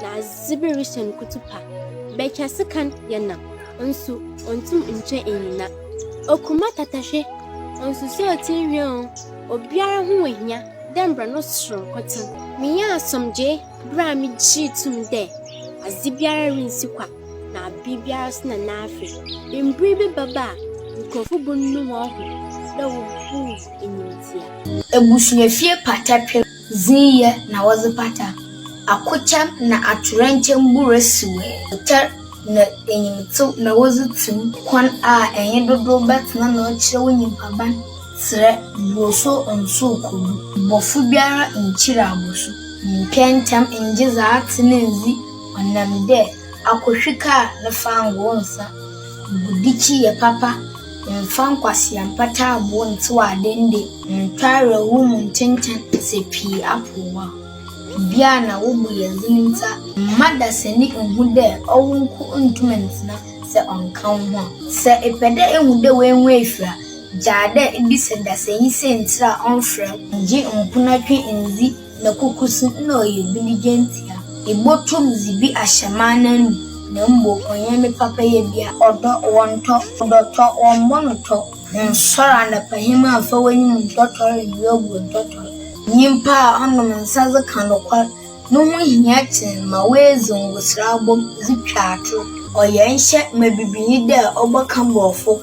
na adze bi rehyɛ no kutupa. Bɛtwa sekan yɛ nam, nso onntum nntwa nnyina. Okuma tatahwe, onnsusu atsenhwi o, obiara ho ohia dɛ mbrɛ no soronko tse. Minyaa asomdwee ber a migyee to mu dɛ adze biara rinnsi kwa na aber biara so na n'afe. Mber bi bɛba a nkorɔfo bonu hɔnho dɛ woboom enyimdzea. Ebusuafie pata pem Dze yɛ na wɔdze pata. Akokyɛm na atoyerɛnkyɛm bu resewee. Ɔkyɛr na enyimtsew na wɔdze tse mu. Kwan a enye dodow bɛtsena na ɔkyerɛ wo nyimpaban serɛ. Bosu nnsow kodu. Bɔfo biara nnkyir abosu. Nntwɛn ntsɛm nngye dza atse no nndzi, ɔnam dɛ. Akotwi kaa ne fangoo nsa gu dikyi yɛ papa mfa nkwasea mpataaboɔ ntew ade nde ntwa awerɛhow mu ntenten sɛ pii apow wo a. Bi a na wo bo yɛ dzen ntsi a mma dasani nnhu dɛ ɔwo nko nntum nntsena sɛ ɔnnka woho a. Sɛ epɛ dɛ ehu dɛ woennhu efir a, gyaa dɛ ibisa dasanyi siantsir a ɔmmfrɛ wo. Gye mponatwe ndzi. na kokosi nna ɔyɛ bi ne gyantsia. Ibotum dze bi ahyɛ m'ananmu, na mbom ɔnnyɛ me papayɛ bia. Ɔdɔ, wɔntɔ, ɔdɔ tɔ, wɔmbɔ no tɔ, nsɔr anapahema mmfa w'enyim nntɔtɔr mbrɛ obu nntɔtɔr. Nyimpa a ɔnom nsa dze kã nokwar no ho hia kyɛn ma oedzi ngosera abɔ mu dze twa ator. Ɔyɛ nhyɛ ma bibinyi dɛ ɔbɔka Borɔfo.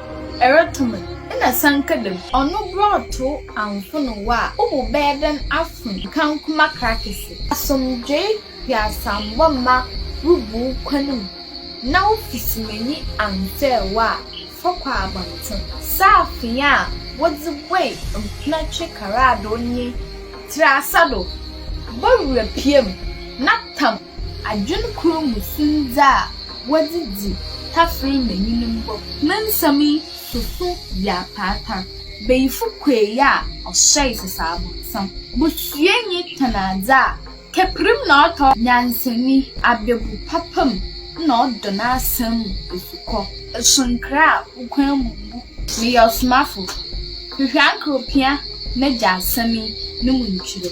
Eroto me na san ka dɛm. Ɔno brɔto anfono wo a, wo bo bɛyɛ dɛn afon kankoma krakese? Asomdwee hweasambɔ mma wo bu wo kwan mu na wo fisumanyi annsɛɛ wo a, fa kɔ abɔntsen. Saafee a wɔdze buei mpenatwe karadoo nye tsirasa do, bɔwura pia mu na tam. Adwen kor mu sum dza wɔdze dzi tafer ma nyine mbɔ. Me nsɛm yi soso yɛ apaata. Bayifo kuei a ɔhyɛe sesa abɔnsam. Bosua nye tɔn adze a kɛperim na ɔtɔ. Nyansani, ababu papa mu na ɔdɔ n'asɛm mu esukɔ. Eso nkra a wo kwan mu mbu. Meyɛ ɔsomafo. Hwehwɛ anka opia n'Egya asɛm yi no mu ntwerɛ.